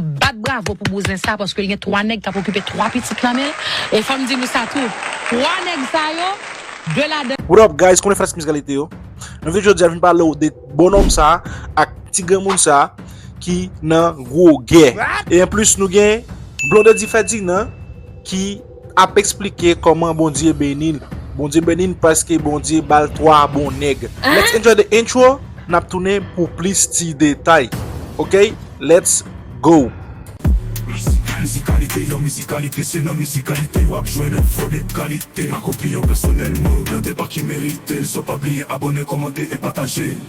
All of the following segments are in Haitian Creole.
Bat bravo pou bouzen sa paske l gen 3 nèg kap okipe 3 pitit nan menl e fòm di nou sa tou 3 nèg sa yo 2 ladan What up guys konnen fanatik mizikal ete yo Nan video jodi a vin palew de bonòm sa ak ti granmoun sa ki nan gwo gè e anplis nou gen Blondedy Ferdinand ki ap esplike koman bondye benil bondye benil paske bondye bal 3 bon nèg let's enjoy the intro nap tounen pou plis ti detay ok let's go. Mizikalite, nan mizikalite Se nan mizikalite wap jwenn enfo de kalite Ak opinyon pèsonèl mwen ou blende pa ki merite l So pa bliye abòne, kòmante e pataje l.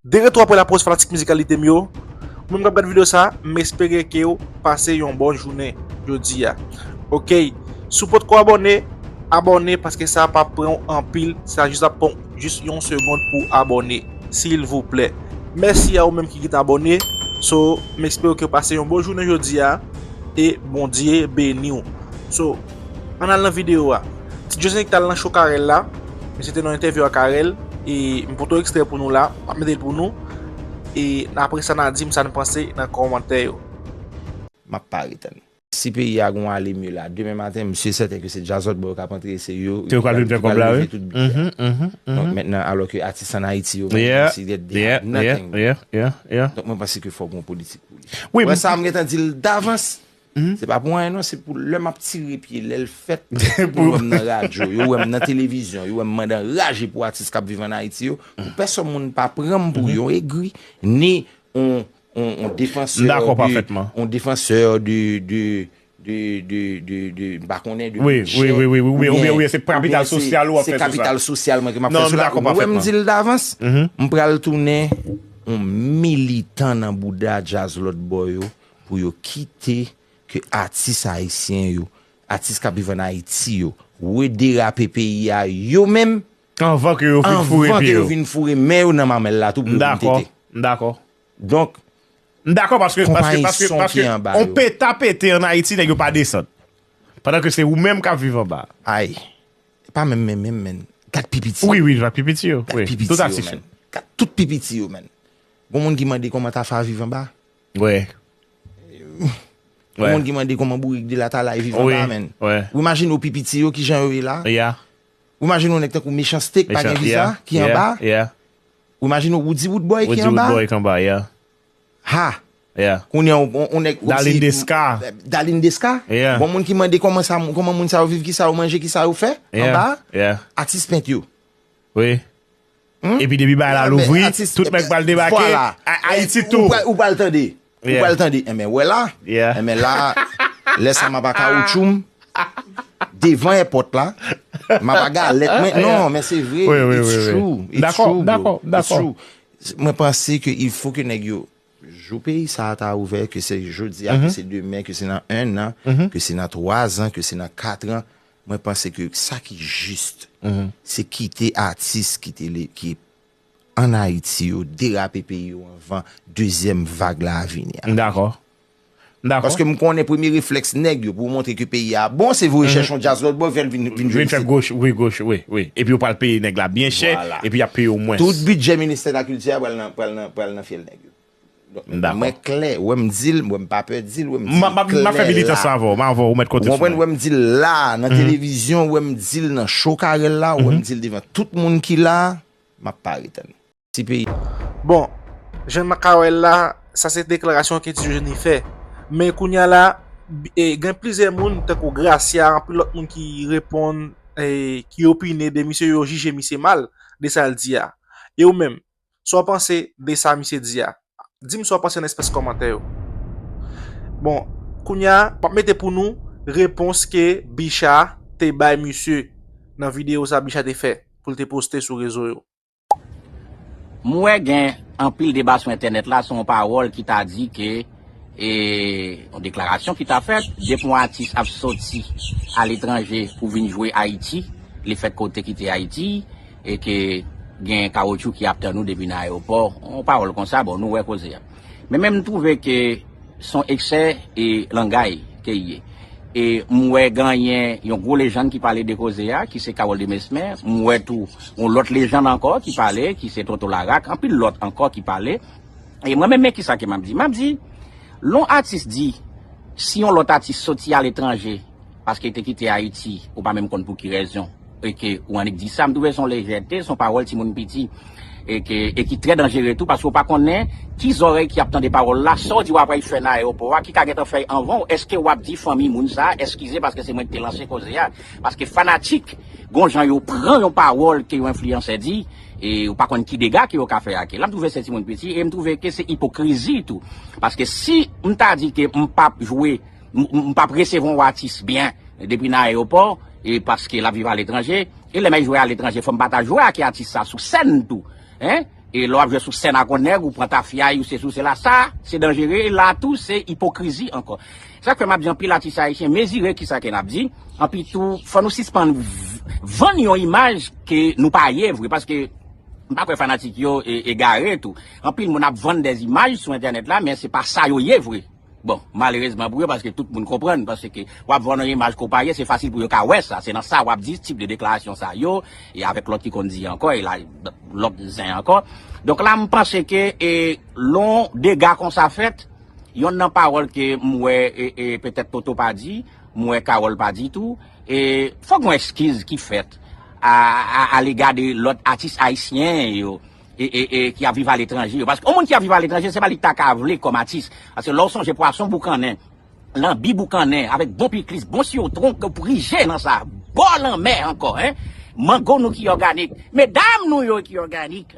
De retou apre la poz fanatik mizikalite m yo, ou menm kap gad video sa m espere kew pase yon bon jounen jodi a ok si w potko abòne abòne paske sa pa pranw anpil sa jis ap pranw jis yon segond pou abòne silvouplè mèsi a ou menm ki gin t abòne so m espere kew pase yon bon jounen jodi a e bondye beniw so. Ann al nan videyo a. Ti Dieusenick t al nan show Carel la. Misye te nan entèvyou ak Carel. E m pote yon ekstrè pou nou la. M ap mete l pou nou. E apre sa n a di m sa n panse nan kòmantè yo. M ap pa ret ann. Si peyi a gon ale mye la. Demen maten m si e sèten ke se djazòt ba yo k ap antre e se yo. Ke yo k ap vin fè kòb la wi. Donk mentnan alò ke atis an Ayiti yo menm menm si dèt dey ap nothing. Donk mwen panse ke fò gon politik pou li. Wè sa m gentan di l davans. Se pa pou anyen non, se pou lè map tire pye, lèl fèt, pou wèm nan radyo, yo wèm nan televizyon, yo wèm mande anraje pou atis kap viv an Ayiti yo, pou pèsòn moun pa pranm pou yon egri, ni yon defansè de, mpa konnen, de bidjè, oubyen se kapital sosyal ou ap fè sou sa. Se kapital sosyal mwen ke map fè sou la, ou wèm dil davans, mpral tounen yon militan nan bouda djaz lòt bò yo, Pou yo kite ke atis ayisyen yo, atis kap viv an Ayiti yo, rederape peyi a yo menm, anvan ke yo fin foure pye yo, vin foure men yo nan mamèl la tou pou yo vin tete. M dakò. Donk. M dakò paske, paske, paske, paske, on peta pete an Ayiti nèg yo pa desann. Pandan ke se ou menm kap viv anba. Ay. Se pa menm menm menm menn. Gad pi piti. Wi, wi, gad pi piti yo. Gad pi piti yo menn. Tout ap sifi. Gad tout pi piti yo menn. Gon moun ki mande kòman Tafa viv anba? Wè. Gen moun ki mande kòman bourik de la ta la e vivan la menn. Ou imajine ou pi piti yo ki jan yo ye la. Ou imajine ou nèk tankou Mechans-T ki pa gen viza ki anba. Ou imajine ou Woody Woodboy ki anba. Woody Woodboy ki anba, yeah. Ha! Kounye an ou nèk ou si. Dalin Deska. Dalin Deska. Bon moun ki mande kòman moun sa yo viv, ki sa yo manje, ki sa yo fè anba. Atis pent yo. Wi Epi depi bagay la louvri tout nèg pral debake Ayiti tou Ou pral tande Ou pral tande Enben wè la Enben la Lè sa m ap a kawoutchou m Devan èpòt la M ap a galèt mwen Non men se vre It's true It's true bro It's true Mwen panse ke il fo ke nèg yo Jou peyi sa a ta ouvè Ke se jodi a Ke se demen Ke se nan 1 an Ke se nan 3 an Ke se nan 4 an Mwen panse ke sa ki jist, se kite atis ki te le, ki an Ayiti yo, derape peyi yo anvan dezyèm vag la a vini a. M dakò. M dakò. Paske m konnen premye reflèks nèg yo pou montre ke peyi a bon, se voye chèche yon djaz lòt bò, fè l vin jwe isit. Vin fè wi goch, wi, wi. Epi yo pral peye nèg la byen chè, epi y ap peye w mwens. Tout bidjè ministè lakilti a pral nan, pral nan, pral nan fyèl nèg yo. M dakò. Mwen klè, wè m di l, wè m pa pè di l, wè m di l klè la. M ap fè militans lan avè w, m avè w, ou mèt konte sou mwen. Ou konprann, wè m di l la a, nan televizyon, wè m di l nan show Carel la, wè m di l devan tout moun ki la a, m ap pare tann ou. Ti peyi a. Bon, jan m ka wè l la, sa se deklarasyon ke Ti Jeni fè. Men kounye a la, gen plizyè moun, tankou Gracia, anpil lòt moun ki reponn, ki opine de misye, yo jije misye mal, de sa l di a. E ou menm, Sa w panse de sa misye di a? Di m sa w panse nan espès kòmantè yo. Bon, kounye a, m ap mete pou nou repons ke Bicha te bay misye nan videyo sa Bicha te fè pou l te poste sou rezo yo. M wè gen anpil deba sou entènèt la sou yon pawòl ki ta di ke. E yon deklarasyon ki ta fèt, depi yon atis ap soti aletranje pou vin jwe Ayiti, li fèk konte kite Ayiti, e ke gen kawotchou ki ap tann ou depi nan ayewopò, yon pawòl konsa, bon nou wè koze a. Men menm m twouve ke s on eksè e langay ke y ye. E m wè ganyen yon gwo lejann ki pale de koze a, ki se Carole de Mesmer, m wè tou yon lòt lejann ankò ki pale, ki se Tonton Larak, anpil lòt ankò ki pale, E mwen menm men kisa ke map di? Map di, lè yon atis di, si yon lòt atis soti a letranje, paske li te kite Ayiti, ou pa menm konn pou ki rezon, e ke ou annik di sa, m twouve se yon lejète, se yon pawòl timoun piti, e ke, e ki trè danjere tou, paske ou pa konnen, ki zòrèy ki ap tande pawòl la, sa w di wap al fè nan ayewopò a, ki ka gentan fè anvan w, eske wap di fanmi moun sa a, eskize paske se mwen ki te lanse koze a, paske fanatik, gon jan yo pran yon pawòl ke yon enfliyansè di, E ou pa konn ki dega ke yo ka fè ake. La m twouve se timoun piti e m twouve ke se ipokrizi tou. Paske si m ta di ke m pap jwe, m pap resevwa yon atis byen depi nan ayewopò e paske l ap viv aletranje, e lè m al jwe aletranje fò m pa ta jwe ake atis sa sou sèn tou. Hein? E lè w ap jwe sou sèn ak yon nèg, ou pran tafya, ou sesi, ou sela, sa se danjere e la tou se ipokrizi ankò. Sak fè map di anpil atis ayisyen mezire kisa ke nap di, anpi tou fò nou sispann vann yon imaj ke nou pa ye vre paske m pa kwè fanatik yo egare tou. Anpil moun ap vann des imaj sou entènèt la men se pa sa yo ye vre. Bon, malerezman pou yo paske tout moun konprann paske wap vann yon imaj ke w pa ye se fasil pou yo ka wè sa. Se nan sa wap di tip de deklarasyon sa yo e avèk lòt ki konn di ankò e la lòt zen ankò. Donk la m panse ke lè yon dega konsa fèt. Yonn nan pawòl ke m wè e petèt Toto pa di, m wè Carole pa di tou, e fòk yon ekskiz ki fèt a lega de lòt atis ayisyen yo e ki ap viv aletranje yo. Paske yon moun ki ap viv aletranje se pa li k ta ka vle kòm atis. Paske lè w sonje pwason boukannen, lanbi boukannen avèk bon pikliz, bon siwotwon ke w prije nan sa, bò lanmè ankò, mango nou ki òganik, medam nou yo ki òganik,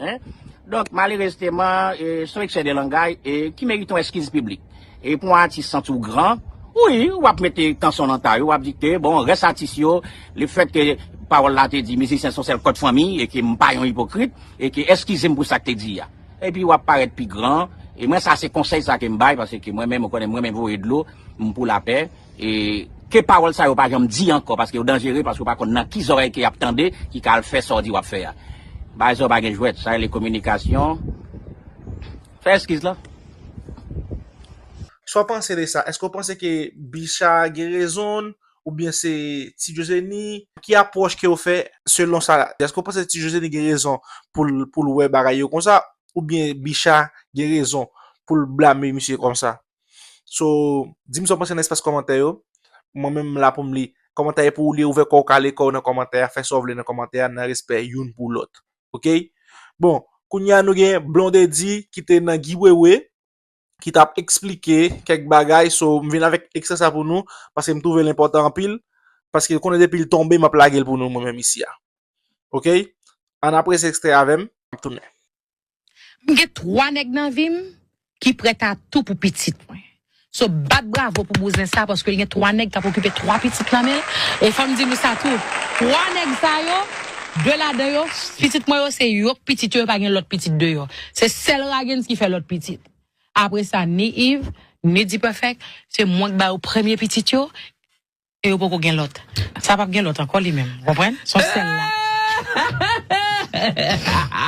Donk, malerezteman, se yon eksè de langay ki merite yon eskiz piblik. E pou yon atis santi w gran, wi, w ap mete kanson nan tay ou, w ap di ke, bon, rès atis yo, le fèt ke pawòl la te di mizisyen son sèl kòd fanmi e ke m pa yon ipokrit e ke eskize m pou sa k te di a. Epi w ap parèt pi gran. E mwen sa se konsèy sa ke m bay paske mwen menm ou konnen m renmen voye dlo, m pou lapè. E ke pawòl sa yo pa janm di ankò paske yo danjere paske ou pa konn nan ki zòrèy ke yap tande ki ka al fè sa w di wap fè a. Bay zò pa gen jwèt, sa rele kominikasyon. Fè eskiz lan. Sa w panse de sa? Eske w panse ke Bicha gen rezonn ou byen se Ti Josenie? Ki apwòch ke w fè selon sa? Eske w panse Ti Josenie gen rezon pou l wè bagay yo konsa ou byen Bicha gen rezon pou l blame misye konsa? So, di m sa w panse nan espas kòmantè yo. Mwen menm m la pou m li kòmantè yo. Pou w li, ouvè kò w, kale kò w nan kòmantè a. Fè sa w vle nan kòmantè a, nan respè youn pou lòt. Ok? Bon, kounye a nou gen Blondedy ki te nan Guy Wewe, ki t ap eksplike kèk bagay. So, m vin avèk ekstrè sa pou nou, paske m twouve l enpòtan anpil. Paske konnen depi l tonbe, m ap lage l pou nou mwen menm isi a. Ok? Ann aprese ekstrè a avè m, m ap tounen. M gen 3 nèg nan vi m ki prèt a tou pou pitit mwen. So bat bravo pou bouzen sa paske l gen 3 nèg k ap okipe 3 pitit nan men l. E fò m di nou sa tou, 3 nèg sa yo, 2 ladan yo, pitit mwen yo se yo k pitit yo, yo pa gen lòt pitit deyò. Se sèl Ragens ki fè lòt pitit. Apre sa ni Iv, ni Dipèfèk, se mwen k ba yo premye pitit yo. e yo poko gen lòt sa pap gen lòt ankò li menm ou konprann son sèl la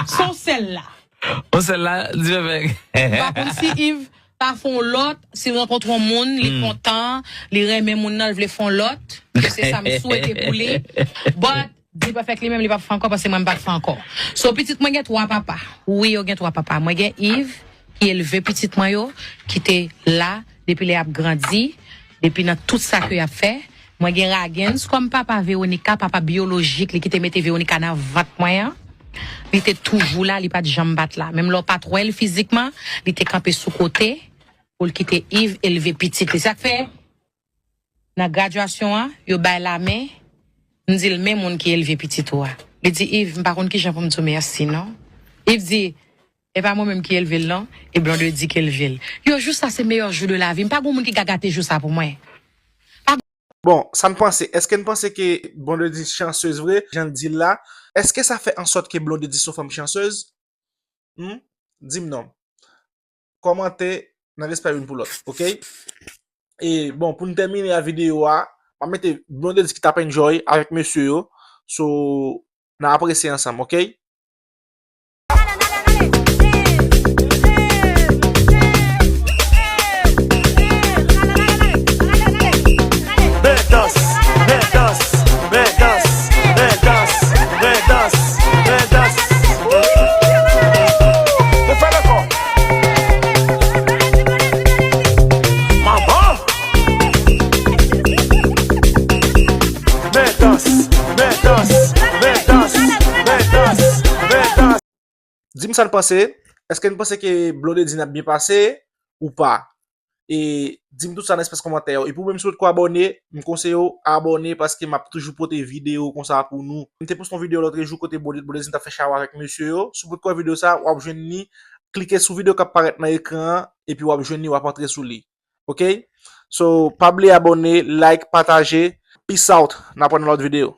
son sèl la son sèl la Dyebèg ou pa konn si Iv pa fè yon lòt si l rankontre yon moun li kontan li renmen moun nan l vle fè yon lòt se sa m swete pou li but. Dplufec li menm li pap fè ankò paske mwen m pat fè ankò. So pitit mwen gen 3 papa. Wi yo gen 3 papa. Mwen gen Yves ki elve pitit mwen yo ki te la depi lè yap grandi, depi nan tout sa ke yap fè. Mwen gen Raguens kòm papa Veronica, papa biolojik li ki te mete Veronica nan vant mwen an. Li te toujou la, li pat janm pat la. Menm lè w pat wè l fizikman, li te kanpe sou kote pou l kite Yves elve pitit li. Sa k fè Nan gradyasyon an, yo bay l lamen, m di l men moun ki elve pitit ou a. Li di Iv, m pa konn kijan pou m di w mèsi non. Iv di, e pa mwen menm ki elve l non, e Blonde di k elve l. Yo jou sa se meyè jou de lavi m, pa gon moun ki ka gate jou sa pou mwen. Bon, sa n panse? Eske n panse ke Blondedy chansez vre, jan l di l la? Eske sa fè ansòt ke Blondedy s on fanm chansez? Hum? Di m non. kòmante nan respè youn pou lòt ok e bon pou nou tèmine a videyo a map mete blondedy ki tap enjoy avèk mesye yo so nan apresye ansanm ok. Dim sa n panse, eske n panse ke Blondedy n ap byen pase ou pa? E dim tout sa nan espas komantè yo. E pou menm si ou potko abòne, m konseye ou abòne paske map toujou pote video konsa pou nou. M te poste yon video lotre jou kote Bondye t bondye di m tap fè chawa avèk mesye yo. Si w potko wè video sa, wap jwenn li. Klike sou video kap parèt nan ekran an epi wap jwenn li wap antre sou li. Ok So pa bliye abòne, like, pataje. Peace out N ap wè nan lòt video.